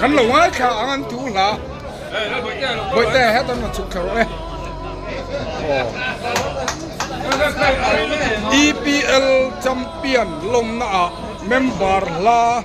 Kan lo ngaithla ang an tu hla. Bawihtei ah hian an chhuk thla rawh e. EPL champion lawmna ah member hla a.